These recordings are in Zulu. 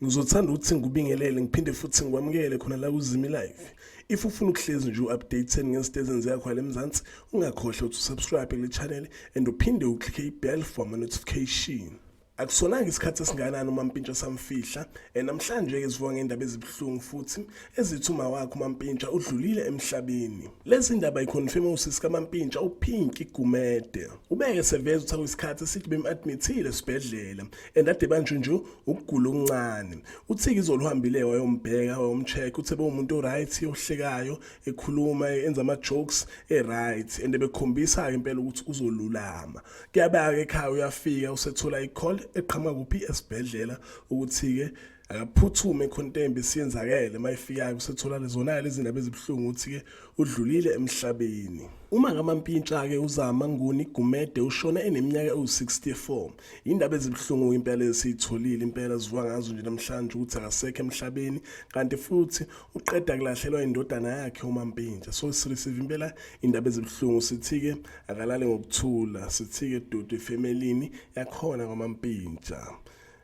Ngizothanda ukuthi ngikubingelele ngiphinde futhi ngikwamukele khona la kuZimi Live. If ufuna ukuhlezi nje u-updated ngezinto ezenziwa khona eMzansi, ungakhohlwa ukuthi usubscribe kule channel and uphinde uclick i-bell for ama-notification. Akusolanga isikhathi esingakanani uMampintsha samfihla eh, namhlanje-ke sivuka ngendaba ezibuhlungu futhi ezithi uma wakhe uMampintsha udlulile emhlabeni. Lezi ndaba ikhonfirme usisi kaMampintsha uPinky Gumede. Ubeke seveza ukuthi akuyisikhathi esithi bem-admithile esibhedlela and ade banje nje ukugula okuncane. Uthike izolo uhambile wayombheka wayomcheck uthe bewumuntu o-right ohlekayo ekhuluma enza ama-jokes e-right and bekhombisa-ke impela ukuthi uzolulama. kuyabeka ekhaya uyafika usethola i-call eqhamuka kuphi esibhedlela ukuthi-ke akaphuthume ekhontembe siyenzakele uma ifikayo usethola lezonakala izindaba ezibuhlungu ukuthi-ke udlulile emhlabeni uma ngamampintsha-ke uzama nguni gumede ushone eneminyaka ewu-64 yindaba ezibuhlungu impela esiyitholile impela zivuka ngazo nje namhlanje ukuthi akasekho emhlabeni kanti futhi uqeda kulahlelwa indodana yakhe umampintsha so sirisive impela indaba ezibuhlungu sithi-ke akalale ngokuthula sithike doti efemelini yakhona kwamampintsha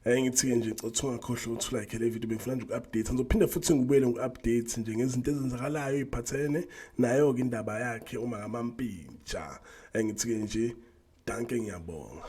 Hey ngithi-ke nje cothi ungakhohlwa ukuthi ulike le video bengifuna nje uku-update ngizophinde futhi ngibuyele ngiku-update nje ngezinto ezenzakalayo iphathene nayo-ke indaba yakhe uma ngamampintsha engithi-ke nje danke ngiyabonga